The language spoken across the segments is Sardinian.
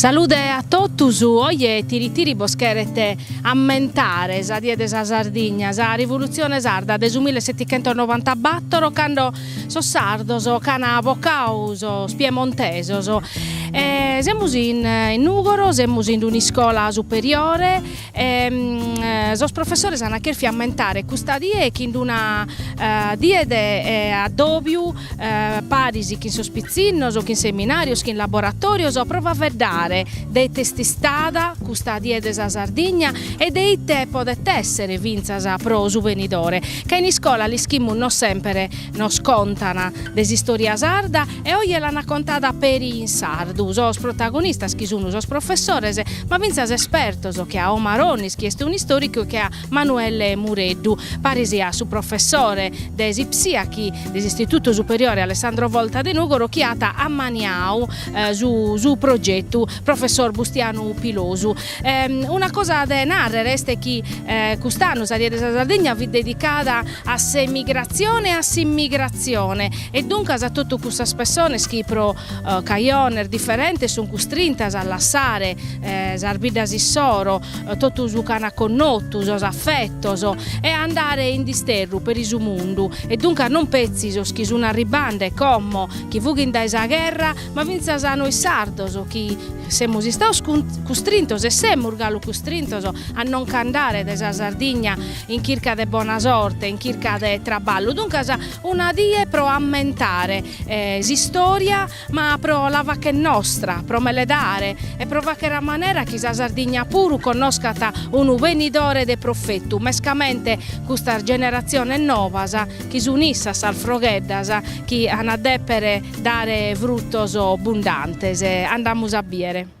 Salude a totus, oje Tiritiri bos cheret ammentare sa die de sa Sardigna, sa Rivulutzione Sarda de su millesetichentosnovantabattoro cando sos sardos ch'an abocadu sos piemontesos e semus in Nùgoro, semus in un'iscola superiore E sos professores ana cherfiu ammentare custa die chin d-una die de addòbiu paris chin sos pitzinnos, chin seminàrios, chin laboratòrios pro faeddare de ite est istada custa die de sa Sardigna e de ite podet èssere fintzas pro su benidore, ca in iscola l'ischimus no semper nos contan de s'istòria sarda E oje l'ana contada peri in sardu sos protagonistas chi sunu sos professores, ma fintzas espertos, che a Omar Onnis chi est un'istoricu e che a Manuelle Mureddu, paris a su professore de s'Ipsia chi de s'Istitutu Superiore Alessandro Volta de Nugoro chi at ammaniau su su progetu, professor Bustianu Pilosu. Una cosa de narrer est chi cust'annu sa Die de sa Sardigna fit dedicada a s'emigrazione e a s'immigrazione E duncas totu cussas pessonas chi pro cajones diferentes sun custrintas a lassare sas biddas issoro, totu su ch'an connotu, sos affettos, e a andare in disterru peri su mundu, e duncas non petzi sos chi sun arribbande como chi fughin dae sa gherra, ma fintzas a nois sardos chi semus istados custrintos e semus galu custrintos a no' ch'andare dae sa Sardigna in chirca de bona sorte, in chirca de traballu, duncas Una die pro ammentare s'istòria ma pro la fàcher nostra, pro meledare e pro fàcher a manera chi sa Sardigna puru connoscat unu benidore de profetu, mescamente custas generatziones nobas chi sun issas sas frogheddas chi an a dèpere dare frutos bundantes. Andamus a bìere.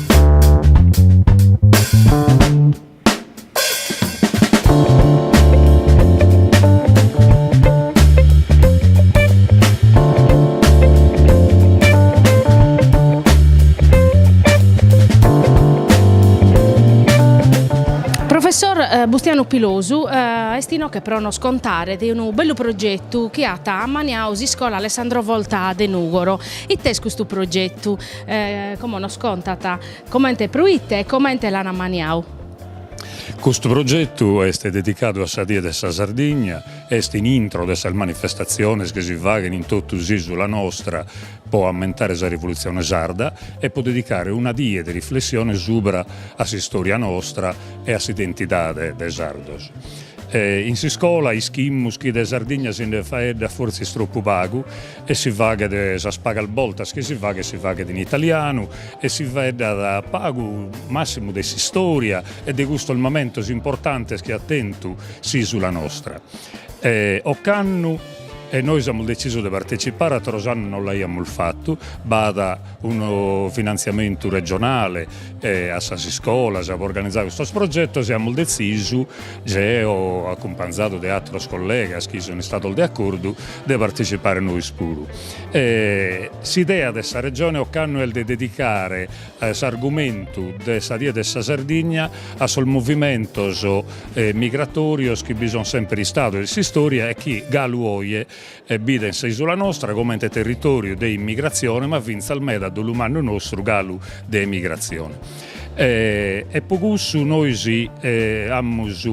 Professor Bustianu Pilosu est inoche pro nos contare de unu bellu progetu chi at ammaniau s'iscola Alessandro Volta de Nùgoro. Ite est custu progetu? E como nos contat comente proite e comente l'an ammaniadu? Custu progetu est dedicadu a sa Die de sa Sardigna, est in intro de sas manifestatziones chi si faghent in totu s'ìsula nostra pro ammentare sa Rivolutzione Sarda e pro dedicare una die de riflessione subra a s'istòria nostra e a s'identidade de sardos. In s'iscola ischimus chi de Sardigna si nde faeddat fortzis tropu pagu E si faghet sas pagas bortas chi si faghet si faghet in italianu e si faeddat pagu massimu de s'istòria e de custos mamentos importantes chi at tentu s'ìsula nostra. Ocannu e nois amus detzisu de partecipare, ateros annos non l'aiamus fatu, b'at unu finantziamentu regionale a sas iscolas pro organizare custos progetos e amus detzisu, geo acumpanzadu de ateros collegas chi sun istados de acordu de partecipare nois puru. E s'idea de sa Regione ocannu est de dedicare s'argumentu de sa Die de sa Sardigna a sos movimentos migratòrios chi bi sunt semper istados in s'istòria e chi galu oje biden sa Isula nostra comente territòriu de immigratzione ma fintzas meda dolu mannu nostru galu de emigratzione. E pro cussu nois amus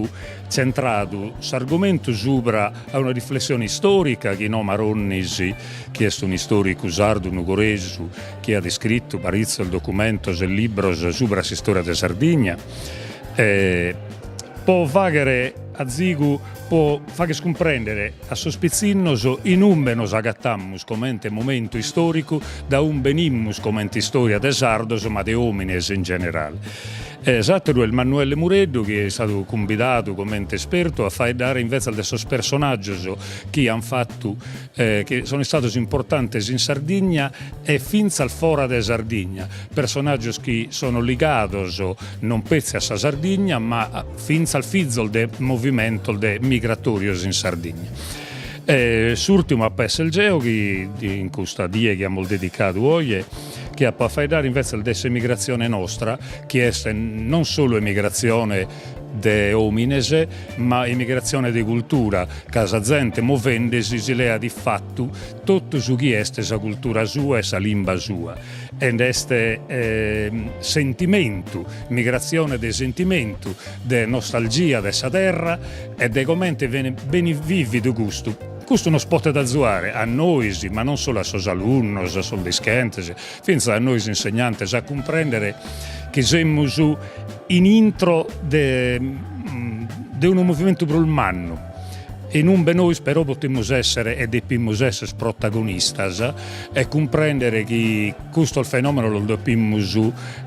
tzentradu s'argumentu subra A una riflessione istòrica chin Maronnis, chi est un'istòricu sardu nugoresu chi at iscritu paritzos documentos e libros subra s'istòria de Sardigna, pro fàghere azigu, pro fagher cumprèndere a sos pitzinnos in umbe nos agatamus comente momentu istòricu, dae umbe benimus comente istòria de sardos ma de òmines in generale. E s'àteru est Manuelle Mureddu chi est istadu cumbidadu comente espertu a faeddare invetzas de sos personàgios chi an fatu chi sono istados importantes in Sardigna e fintzas fora de Sardigna, personàgios chi sono ligados non petzi a sa Sardigna ma fintzas fizos de movimentos de migratòrios in Sardigna. E s'ùrtimu apo a esser geo chi in custa die chi amus dedicadu oje chi apo a faeddare invetzes de s'emigratzione nostra, chi est non solu emigratzione de òmines, ma emigratzione de cultura, ca sa zente movendesi si leat in fatu totu su chi est sa cultura sua e sa limba sua. Ed est sentimentu, emigratzione de sentimentu, de nostalgia de sa terra e de comente benit bìvidu custu. Custu nos potet azuare a nois, ma non solu a sos alunnos, a sos dischentes, fintzas a nois insegnantes a cumprèndere chi semus in intro de unu movimentu prus mannu, in umbe nois però potemus èssere e depimus èssere protagonistas e cumprèndere chi custos fenòmenos los depimus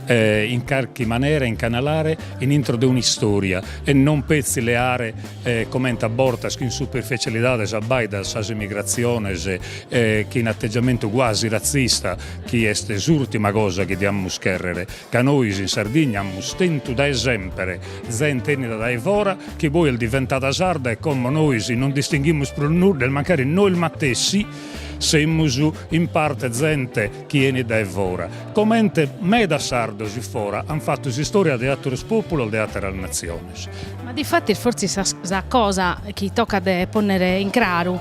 in carchi manera incanalare in intro de un'istòria e non petzi leare e comente a bortas chin superficialidade s'abbaidan sas immigratziones e chin atteggiamentu quasi ratzista chi est s'urtima cosa chi diamus cherrere ca nois in Sardigna amus tentu dae sempre zente 'ennida dae fora chi poi est diventada sarda e como nois non distinghimus prus nudda e mancari nois matessi semus in parte zente chi 'enit dae fora comente medas sardos fora an fattu s'istoria de atteros populos de atteras natziones. Ma difatis fortzis sa sa cosa chi tocat de pònnere in craru,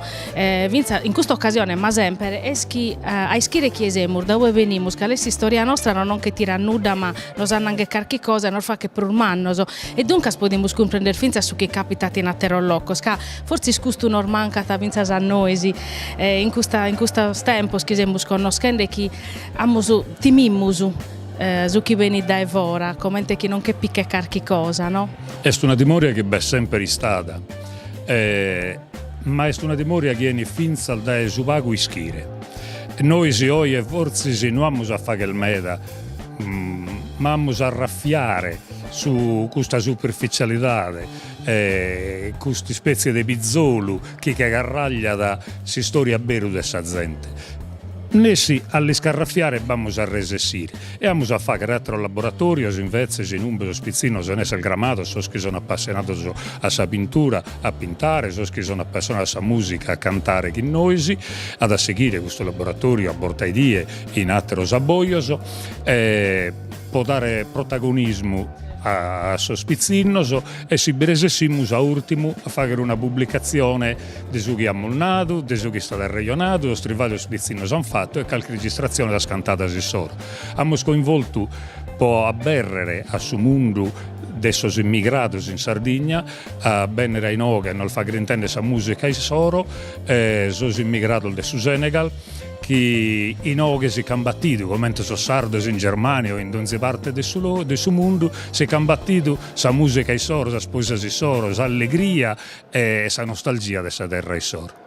fintzas in custa ocasione ma semper, est chi a ischire chie semus, da ue benimus, cale est s'istòria nostra no nos che tirat nudda ma nos annanghet carchi cosa e nos faghet prus mannos e duncas podimus cumprender fintzas su chi càpitat in àteros locos ca fortzis custu nos mancat fintzas a nois in custa in custos tempos chi semus connoschende e chi amus timimus Su chi benit dae fora, comente chi nos che pichet carchi cosa, no? Est una timoria chi b'est semper istada, ma est una timoria chi 'enit fintzas dae su pagu ischire. Nois oje fortzis no amus a fagher meda, ma amus a arrafiare su custa superfizialidade, custa ispetzie de pizolu chi che carrargiat s'istória a beru de sa zente. Nessi a l'iscarrafiare b'amus a resessire e amus a fàghere àteros laboratòrios invetzes in umbe sos pitzinnos ant a èssere cramados sos chi son apassionados a sa pintura a pintare, sos chi son apassionados a sa mùsica a cantare chin nois. At a sighire custu laboratòriu a borta 'e die in àteros abbojos e. po dare protagonismu a sos pitzinnos e si bi resessimus a ùrtimu a fàghere una publicatzione de su chi amus nadu, de su chi est istadu arrejonadu, sos tribaglios chi sos pitzinnos ant fatu e calchi registratzione de sas cantadas issoro. Amus coinvoltu po abèrrere a su mundu de sos immigrados in Sardigna a bènnere a inoghe e nos fàghere intèndere sa mùsica issoro, sos immigrados de su Senegal, chi inoghe si c'ant batidu, comente sos sardos in Germania o in donzi parte de su de su mundu, si c'ant batidu sa musica issoro, sas poesias issoro, s'allegria e sa nostalgia de sa terra issoro.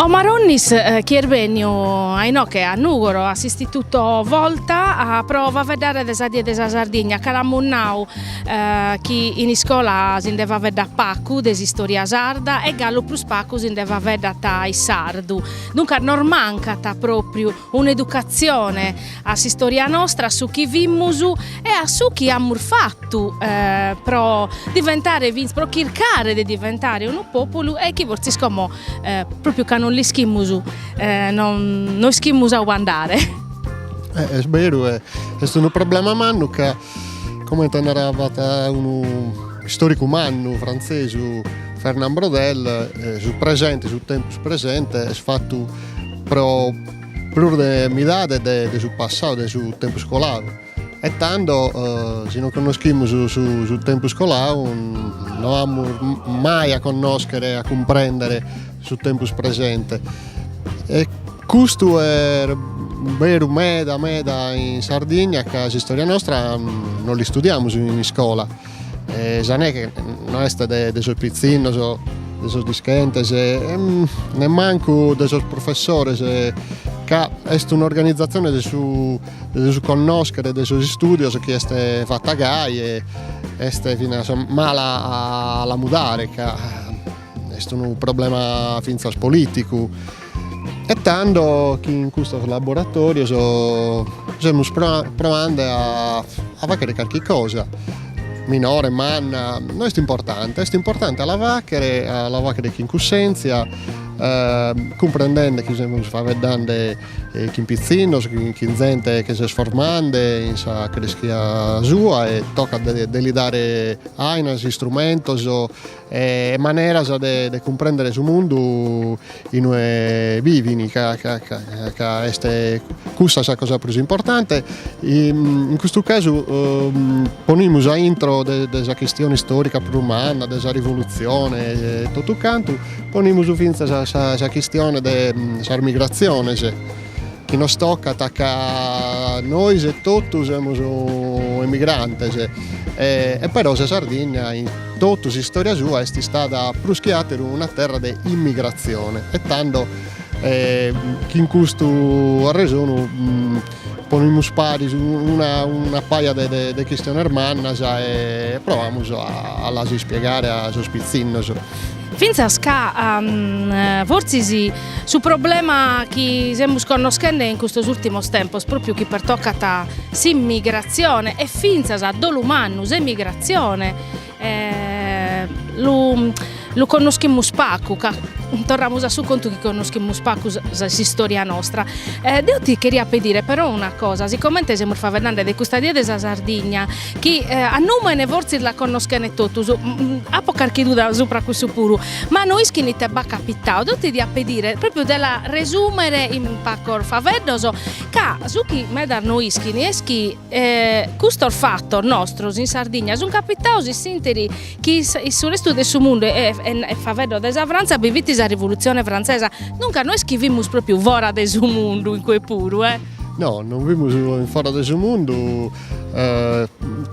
Omar Onnis chi est bènniu inoche a Nugoro a s'Istituto Volta pro faeddare de sa Die de sa Sardigna ca l'amus nau chi in iscola si nde faeddat pagu de s'istoria sarda e galu prus pagu si nde faeddat in sardu, duncas nos mancat propriu Un'educatzione a s'istòria nostra, a su chi fimus e a su chi amus fatu pro diventare fintz, pro chircare de diventare unu pòpulu e chi fortzis como pròpiu ca non l'ischimus no ischimus a ue andare. Est beru, e est unu problema mannu ca comente naraiat unu istoricu mannu frantzesu Fernand Braudel su presente, su tempus presente est fatu Pro prus de midade de su passadu de su tempus coladu e tando si non connoschimus su tempus coladu no amus mai a connoschere a cumprendere su tempus presente e custu est beru meda meda in Sardigna ca s'istòria nostra no l'istudiamus in iscola E sa neghe no est de, de sos pitzinnos, de sos dischentes, nemmancu de sos professores, ca est un'organizatzione de su, de su connoschere e de sos istùdios chi est fata gai e est finas mala a la mudare ca est unu problema fintzas politicu E tando nch'in custos laboratorios semus proande a faghere carchi cosa, minore, manna, no est importante, est importante a la faghere, a la faghere chin cussèntzia, cumprendende chi semus faeddande chin pitzinnos, chin zente chi s'est formande in sa creschia sua e tocat de li dare àinas, istrumentos e maneras de cumprèndere su mundu in ue bivin ca ca est cussa sa cosa prus importante, in custu casu ponimus a intro de sa chistione istòrica prus manna, de sa rivolutzione e totu cantu, ponimus fintzas sa chistione de sas migratziones chi nos tocat ca nois etotu semus emigrantes e però sa Sardigna Totu s'istòria sua est istada prus chi àteru una terra de immigratzione e tando nch'in custu arresonu ponimus paris una paja de chistiones mannas e proamus a las ispiegare a sos pitzinnos. Fintzas ca fortzis su problema chi semus connoschende in custos ùrtimos tempos, pròpiu chi pertocat s'immigratzione e fintzas a dolu mannu s'emigratzione lu connoschimus pagu ca torramus a su contu chi connoschimus pagu s'istòria nostra. Deo ti cheria pedire però una cosa, sigomente semus faeddende de custa die de sa Sardigna chi a nùmene fortzis la connoschent totus, apo carchi duda subra cussu puru, ma no ischin ite b'at capitau, deo ti diat pedire pròpriu de la resùmere in pagos faeddos, ca su chi medas no ischin est chi custos fatos nostros in Sardigna sunt capitaus in s'interi chi in su restu de su mundu e faeddo de sa Frantza bi fit sa Rivolutzione Frantzesa, duncas no est chi fimus pròpriu fora de su mundu, incue puru, eh. No, non fimus fora de su mundu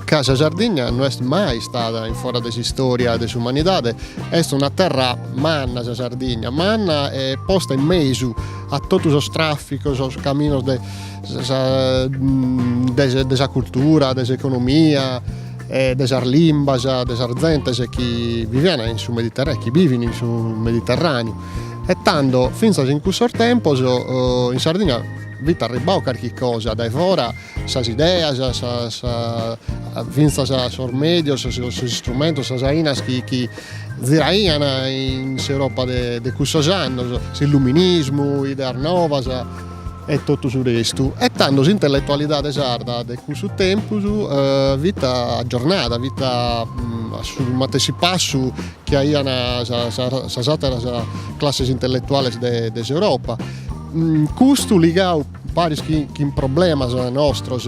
ca sa Sardigna no est mai istada in fora de s'istòria de s'umanidade, est una terra manna sa Sardigna, manna e posta in mesu a totu sos tràficos, sos caminos de sa de sa cultura, de s'economia e de sas limbas de sas zentes chi vivian in su Mediterraneu, chi bivin in su Mediterraneu e tando fintzas in custos tempos in Sardigna fit arribbadu carchi cosa dae fora sas ideas sas fintzas sos medios sos istrumentos sas ainas chi chi ziraian in s'Europa de de cussos annos s'illuminismu ideas novas e totu su restu e tando s'intelletualidade sarda de cussu tempus fit aggiornada fit a su matessi passu chi aian sas sas atteras classes intellettuales de de s'Europa custu ligadu Paris chin problemas nostros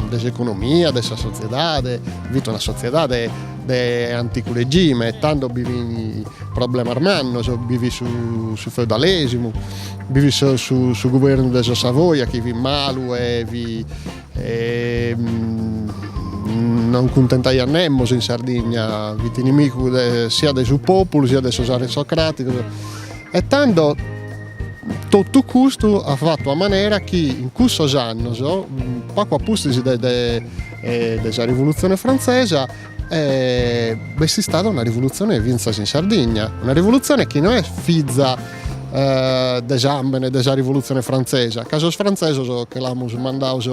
de s'economia, de sa sotziedade, fit una sotziedade de anticu regime e tando bi fin problemas mannos, bi fit su feudalesimu, bi fit su guvernu de sos Savoia chi fit malu e non cuntentaiat nemos in Sardigna, fit inimigu siat de su populu siat de sos aristocraticos e tando Totu custu at fatu a manera chi in cussos annos, pagu a pustis de sa Rivolutzione Frantzesa, b'est istada una rivolutzione fintzas in Sardigna, una rivolutzione chi no est fiza de sambene de sa Rivolutzione Frantzesa, ca sos frantzesos che los amus mandados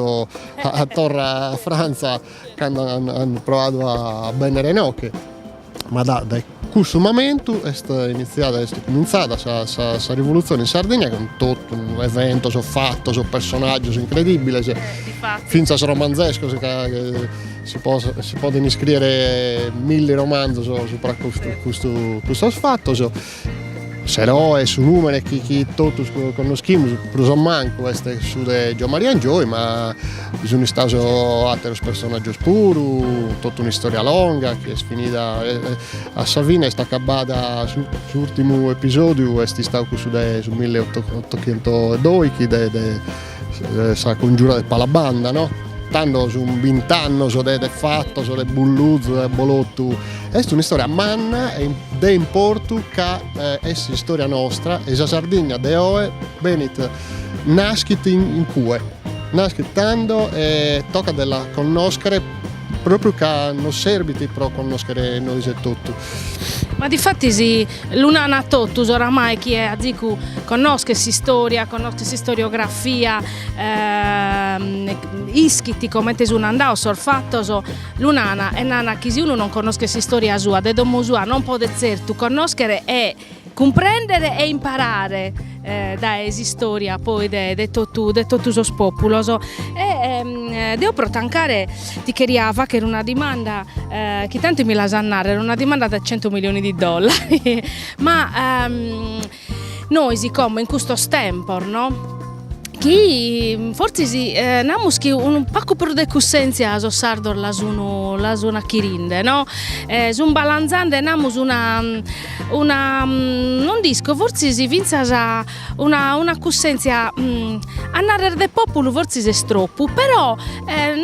a torra a Frantza cando an proadu a bennere inoche Ma da, dae cussu mamentu est initziada, est cumintzada sa, sa, sa rivolutzione in Sardigna, cun totu eventos, fatos, personaggios incredibiles, fintzas romanzescos ca si pos, si podent iscriere milli romanzos supra custu, custu, custos fatos. S'eroe, su nùmene chi, chi totus connoschimus, prus o mancu, est su de Giomaria Angioy, ma bi sunt istaus àteros personàgios puru, totu un'istòria longa chi est finida, a sa fine est acabada, s'ùrtimu episòdiu est istau cussu de su milleotochentoedòichi de Sa cungiura de Palabanda no. Tando sun bint'annos de de fatos, de bulluzu, de abbolotu. Est un'istoria manna e de importu ca est s'istoria nostra e sa Sardigna de oe benit naschit in cue, naschit tando e tocat de la connoschere propriu ca nos serbit pro connoschere nois etotu. Ma difatis lu nant a totus oramai chie azicu connoschet s'istòria, connoschet s'istoriografia, ischit comente sun andaos sos fatos, lu nana e nana chi si unu non connoschet s'istòria sua de domo sua non podet zertu connoschere e Cumprèndere e imparare dae s'istòria poi de de totu de totu sos pòpulos. E deo pro tancare ti cheria fàghere una dimanda chi tanti mi l'as a nàrrere, una dimanda da cento milioni di dollari ma nois como in custos tempos no Chi fortzis namus chi unu pagu prus de cussèntzia sos sardos la sun la sun achirinde no, sun balanzande namus una una non nd'isco fortzis fintzas una una cussèntzia a narrer de pòpulu fortzis est tropu però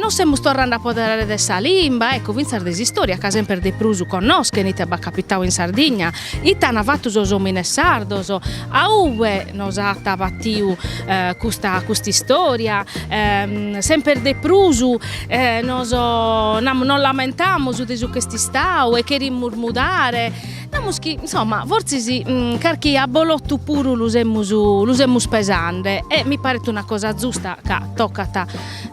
nos semus torrende a apoderare de sa limba, ecco fintzas de s'istòria ca semper de prus connoschent ite b'at capitau in Sardigna Ite an fatu sos omines sardos? A ube nos at batiu custa custa istoria? Semper de prus nos namus nos lamentamus de su ch'est istau e cherimus mudare, namus chi insomma fortzis carchi abbolotu puru lu semus lu semus pesande e mi paret una cosa zusta ca tocat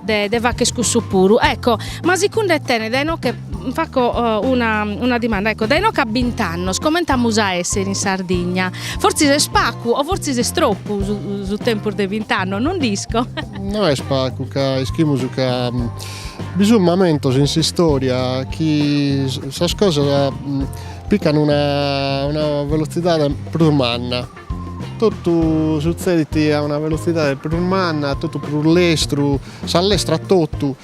de, de facher cussu puru. Ecco, ma sicunde tene dae inoche faco uh, una, una dimanda, ecco, dae inoche a bint'annos comente amus a essere in Sardigna? Fortzis est pacu o fortzis est troppu su, su tempus de bint'annos, non nd'isco. No est pacu, ca ischimus ca mm, bi sunt mamentos in s'istoria chi sas cosas mm, piccan una, una velozidade prus manna Totu sutzedit a una velotzidade prus manna, totu prus lestru, s'allestrat totu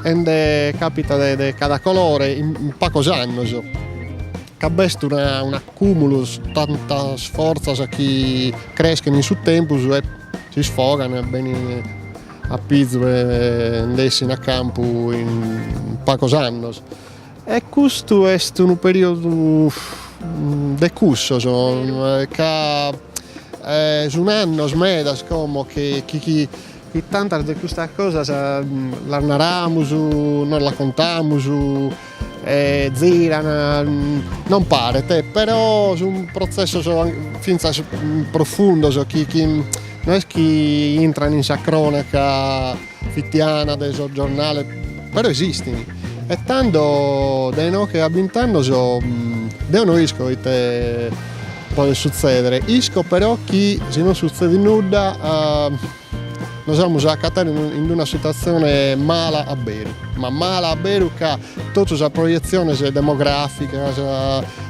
e nde capitat de cada colore in pagos annos. Ca b'est un'acumulu, tantas fortzas chi creschen in su tempus e s'isfogan e benin a pizu e nde essin a campu in pagos annos E custu est unu periodu de cussos ca sun annos medas como chi chi tantas de custas cosas las naramus, nos las contamus e ziran, non paret, però sun protzessos fintzas profundos chi chi no est chi intran in sa cronaca Fitiana de sos giornales però esistini e tando dae inoche a bint'annos deo no isco ite podet sutzedere isco però chi si non sutzedit nudda nos amus a acatare in una situatzione mala a beru ma mala a beru ca totu sas projetziones demograficas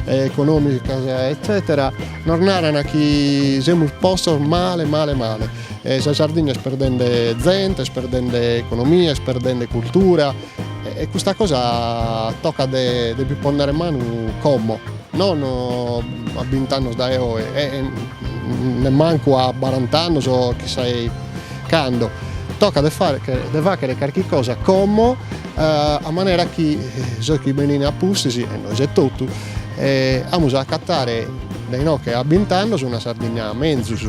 economicas etcetera nos naran chi semus postos male male male E sa Sardigna est perdende zente, est perdende economia, est perdende cultura e custa cosa tocat de bi ponnere manu como, non a bint'annos dae oe e nemmancu a barant'annos o chissà e cando, tocat de fagher carchi cosa como a manera chi sos chi benin a pustis, e nois etotu, amus a acatare dae inoche a bint'annos una Sardigna menzus.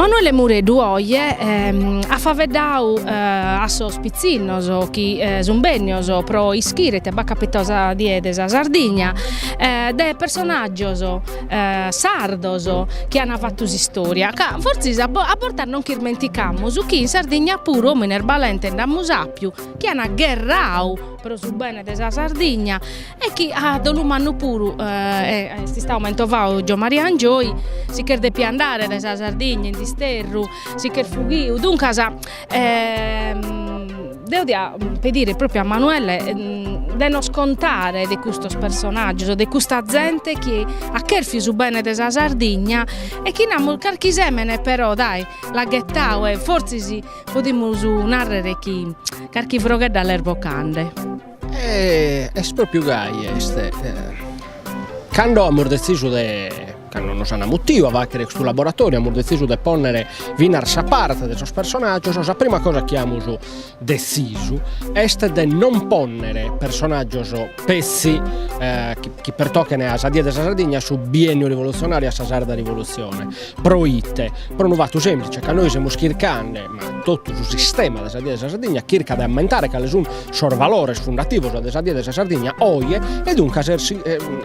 Manuele Mureddu oje at faveddadu a sos pitzinnos chi sun bennios pro ischire ite b'at capitadu sa die de sa Sardigna de personaggios sardos chi an fatu s'istòria, ca fortzis a bortas nos ch'ismenticamus chi in Sardigna puru òmines balentes nd'amus àpiu chi an gherradu pro su bene de sa Sardigna e chi a dolu mannu puru est istadu mentovadu Giommaria Angioy, si ch'est depiu andare dae sa Sardigna in disterru, si ch'est fughiu, duncas E deo dia pedire propriu a Manuele de nos contare de custos personaggios, de custa zente chi at cherfiu su bene de sa Sardigna e chi namus carchi semene però dai l'at ghetadu e fortzis podimus narrer chi carchi froghedda l'est bocande. Est propriu gai, e cando amus detzisu de Cando nos an amutiu a fàghere custu laboratoriu, amus detzisu de pònnere finas sa parte de sos personàgios, sa prima cosa chi amus detzisu est de non pònnere personàgios petzi chi pertochen a sa die de sa Sardigna, a su bienniu rivolutzionàriu e a sa sarda rivolutzione, pro ite? Pro unu fatu semplice, ca nois semus chircande ma in totu su sistema de sa Die de sa Sardigna, chircat de ammentare cale sun sos valores fundativos de sa Die de sa Sardigna oje e duncas est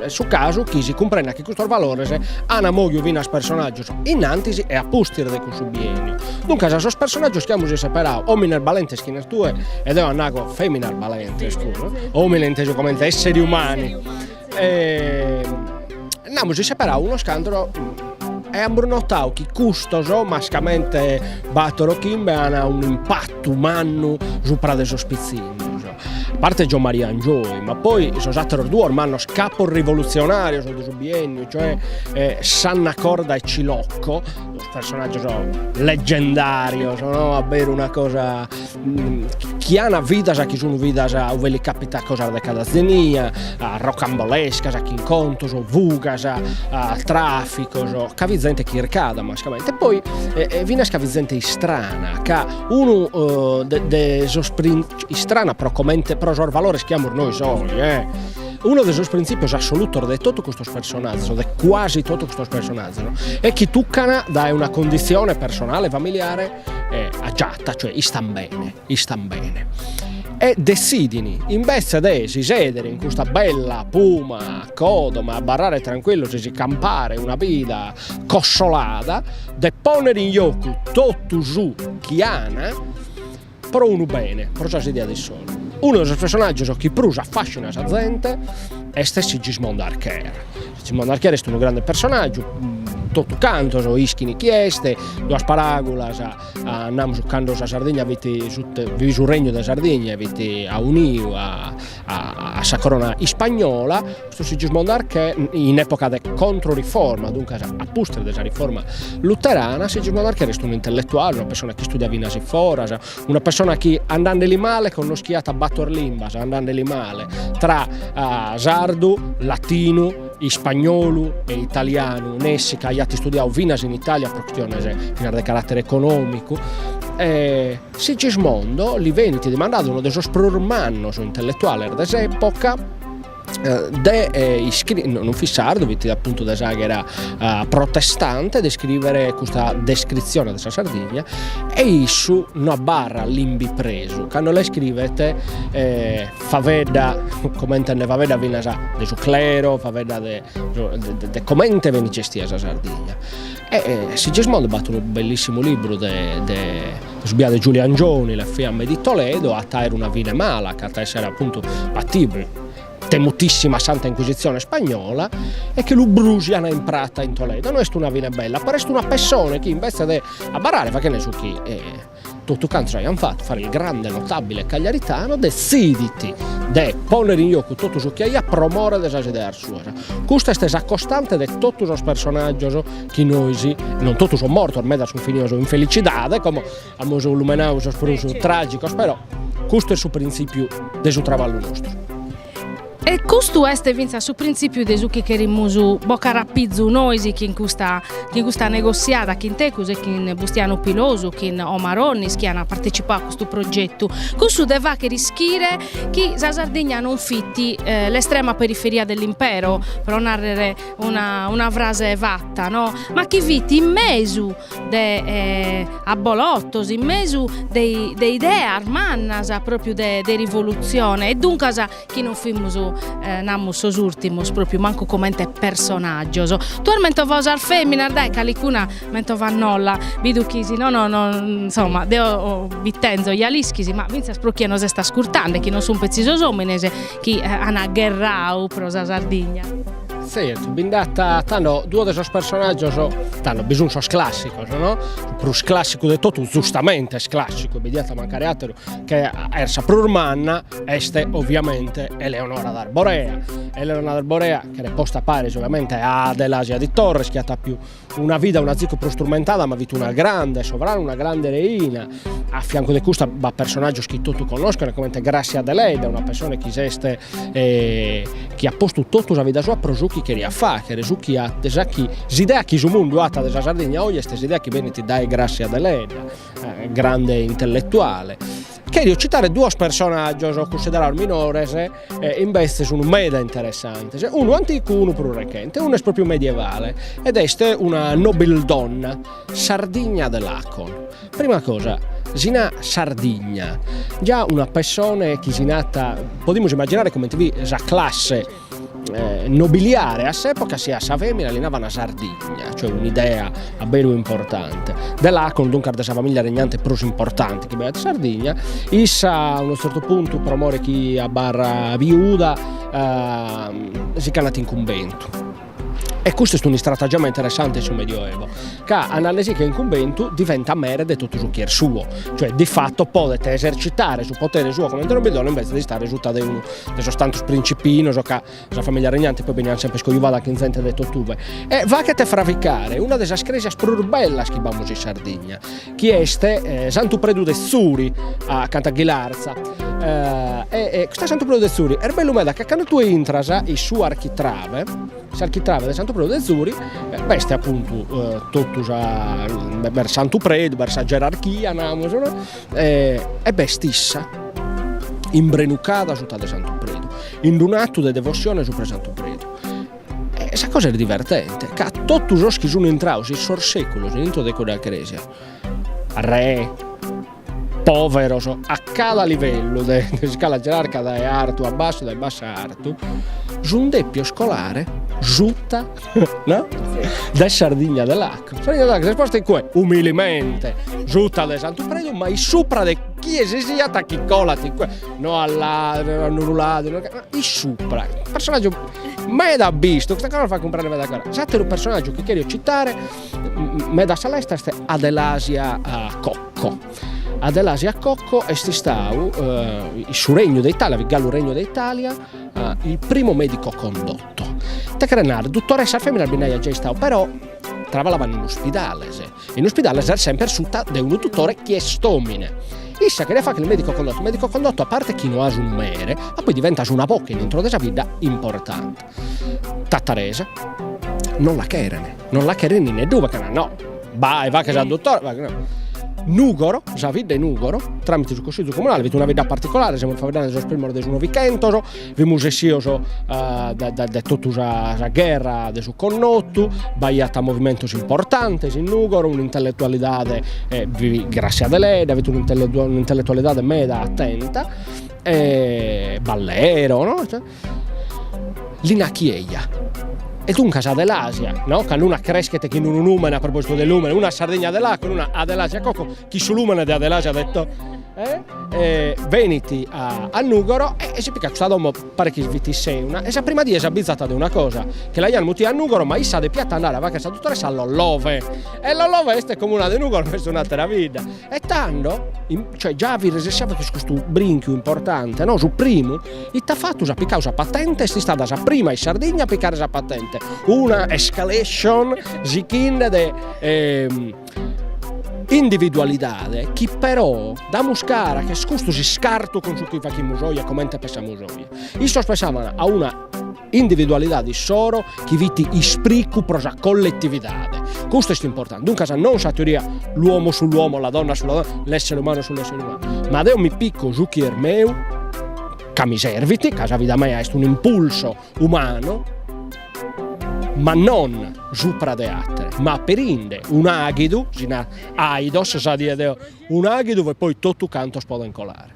su casu chi si cumprendat chi custos valores an moviu finas personaggios in antis e a pustis de cussu bienniu. Duncas a sos personaggios chi amus isseperadu, omines balentes chi nas tue e deo nago feminas balentes puru, omine intesu comente esseres umani E nd'amus isseperadu unos cantos e amus notadu chi custos mascamente Bator o Chimbe an un'impattu mannu supra de sos pitzinnos, a parte Giomaria Angioy, ma poi sos atteros duos mannos capos rivolutzionarios de su bienniu, cioè Sanna Corda e Cilocco, sos personaggios leggendarios no, a beru una cosa chi an vidas chi sun vidas ue li capitat cosas de cada zenia, rocambolescas, chin contos, fugas, traficos, ca fit zente chircada mascamente, e poi finas ca fit zente istrana, ca unu de de sos istrana pro comente pro sos valores chi amus nois oe e unu de sos prinzipios assolutos de totu custos personazzos o de cuasi totu custos personazzos est chi tuccana dae una condizione personale familiare agiata, cioè istan bene, istan bene, e dessidin invetze de si sedere in custa bella puma codoma abarrare tranquillos e si campare una vida cossolada, de ponnere in jocu totu su chi an pro unu bene, pro sas ideas issoro. Unu de sos personaggios chi prus affascina sa zente est Sigismondo Archer Sigismondo Archer est unu grande personàgiu, totu cantos ischin chi est, duas paràgulas andamus cando sa Sardigna fit su fit su regnu de Sardigna e fit auniu a a sa corona ispagnola, custu Sigismondo Archer in epoca de controriforma, duncas a pustis de sa riforma luterana, Sigismondo Archer est unu intelletuale, una pessone chi istudiat finas foras, Una pessona chi andande li male connoschiat bator limbas, andande li male, tra sardu, latinu, ispagnolu e italianu, nessi ca aiat istudiadu finas in Italia pro chistiones finas de carattere economicu, e Sigismondo li benit dimandadu dae unu de sos prus mannos intelletuales de s'epoca, de iscrivere, non fit sardu, fit appuntu de s'àghera protestante, de iscrivere custa descritzione de sa Sardigna e issu no abarrat limbi presu, cando la iscrivet faedda comente nde faeddat finas de su clero, faedda de de comente benit gestia sa Sardigna e Sigismondo b'at unu bellissimu libru de de Su biadu 'e Giulio Angioni, le fiamme di Toledo, at a aer una fine mala, ch'at a essere appuntu sa temutissima Santa Inquisitzione spagnola e che lu brusian in prata in Toledo. No est una fine bella, però est una pessone chi invece de abarrare faghende su chi totu cantos aian fatu, fare il grande notabile cagliaritano, detzidit de ponner in jocu totu su chi aiat pro more de sas ideas suas. Custa est sa costante de totu sos personaggios chi nois, non totu son mortos, medas sun finidos in felicidade, como amus lumenadu sos prus tragicos, però custu est su prinzipiu de su traballu nostru. E custu est fintzas su prinzipiu de su chi cherimus boccare a pizu nois chin custa chin custa negossiada chin tecus e chin Bustianu Pilosu, chin Omar Onnis chi an partecipau a custu progetu, cussu de fagher ischire chi sa Sardigna non fit l'estrema periferia dell'impero, pro narrer Una, una frase fatta no? Ma chi fit in mesu de eh, abolottos, in mesu de, de ideas mannas propriu de, de rivoluzione e duncas chi non fimus eh, namus sos urtimus propriu mancu comente personaggios. Tue as mentovato sas feminas, dai calicuna mentova·nolla, bidu chi si nono no, insomma deo bi tenzo ja l'ischis ma finzas pro chie nos est ascurtende chi non sun petzi sos omines, Chi an gherrau pro sa Sardigna. Zertu, bi nd'at, tando duos de sos personàgios, tando bi sun sos clàssigos, no, su prus clàssigu de totu, zustamente est clàssigu, bi diat mancare àteru, chi est sa prus manna, est oviamente Eleonora d'Arborea, Eleonora d'Arborea cheret posta paris oviamente a Adelasia di Torres chi at pius Una vida unu zicu prus turmentada ma fit una grande sovrana, una grande reina, a fiancu de custa b'at personàgios chi totu connoschent comente Gràssia Deledda, una persone chi s'est chi at postu totu sa vida sua pro su chi cheriat fàghere, su chi at sa chi s'idea chi su mundu at de sa Sardigna oe est s'idea chi benit dae Gràssia Deledda, grande intelletuale Cherio citare duos personaggios cunsiderados minores e invece sun meda interessantes, unu anticu unu prus rechente, unu est propriu medievale ed est una nobildonna, Sardigna de Lacon. Prima cosa si narat Sardigna già una pessone chi si natat podimus immagginare comente fit sa classe nobiliare a s'epoca si a sa femina li navan Sardigna cioè un'idea a beru importante de Lacon duncas de sa familia regnante prus importante chi b'aiat Sardigna issa a unu zertu puntu pro more chi abarrat viuda si c'andat in cumbentu e custu est un'istratagema interessante in su Medioevo ca andandesiche in cumbentu diventat mere de totu su chi est suo cioè di fatto podet esercitare su potere suo comente nobildonna invece de istare sutta de unu de sos tantos principinos ca sa famìlia regnante poi beniat semper iscoiubada chin zente de totue e faghet fraficare una de sas crèsias prus bellas chi b'amus in Sardigna chi est Santu Predu de Zuri acanta a Ghilarza e custu Santu Predu de Zuri est bellu meda ca cando tue intras in su architrave s'architrave de Santu Predu de Zuri b'est appuntu totu sa b'est Santu Predu b'est sa gerarchia namus no E b'est issa imbrenucada suta de Santu Predu, in d-unu atu de devossione supra 'e Santu Predu. E sa cosa est divertente, ca totu sos chi sun intrados in sos seculos in intro de cudda cresia, re, poveros, a cada livellu de s'iscala gerarca dae artu a bassu, dae bassu a artu, sun depios colare suta no? de Sardigna de Lacon. Sardigna de Lacon s'est posta in cue? Umilimente, suta de Santu Predu, ma in supra de chie sisiat chi colat in cue, no a ladus, a unu ladus, no, in supra, personagiu meda abistu, custa cosa fait cumprender meda cosa. S'ateru personagiu chi cherio citare meda a sa lesta est Adelasia Cocco, Adelasia Cocco est istadu in su Regnu de Italia, fit galu Regnu de Italia, il primo medico condotto Ite cheret narrer, duttoressas feminas bi nd'aiat già istadu però trabalaban in uspidales, in uspidale ses semper sutta de unu duttore chi est omine, issa cheriat fagher medico condotto, medico condotto a parte chi no as unu mere, ma poi diventas una boche in intro de sa bidda importante. Tattarese, non la cheren, non la cheren in neddube, chena no, bae faghe sa duttore, Nugoro, sa bidda 'e Nugoro, tramite su Consizu Comunale fit una bidda particolare, semus faeddende sos primos de su Novichentos, Fimus essios dae totu sa gherra de su connotu, b'aiat movimentos importantes in Nùgoro, un'intelletualidade, bi fit Grassia Deledda, fit un'intelletualidade meda atenta, Ballero no, Lina Chieja e duncas Adelasia no, cando una creschet chin unu nùmene a propositu de lùmene, una Sardigna de Lacon e una Adelasia Cocco Chi su lùmene de Adelasia at detto, Benit a Nùgoro e si picat custa domo, paret chi fit in Sèuna, e sa prima die s'abbizat de una cosa, chi l'aian mutia a Nùgoro ma issa depiat andare a fagher sa dutoressa a Lollove, e Lollove est comuna de Nùgoro ma est un'àtera bidda, e tando, cioè già fit resessia cun custu brinchiu importante, no, su primu, ite at fatu, s'at picadu sa patente, est istada sa prima in Sardigna a picare sa patente, una escalation sichinde de individualidade chi però damus cara ch'est custu s'iscartu cun su chi faghimus oe e comente pensamus oe. Issos pensaban a una individualidade issoro chi fit ispricu pro sa colletividade, custu est importante, duncas non sa teoria l'uomo sull'uomo, la donna sulla donna, l'essere umano sull'essere umano, ma deo mi pico su chi est meu ca mi servit, ca sa vida mea est un'impulso umanu, ma non supra de àtere, ma aperinde un'àghidu, si narat àidos, sa die de oe, un'àghidu e poi totu cantos podent colare.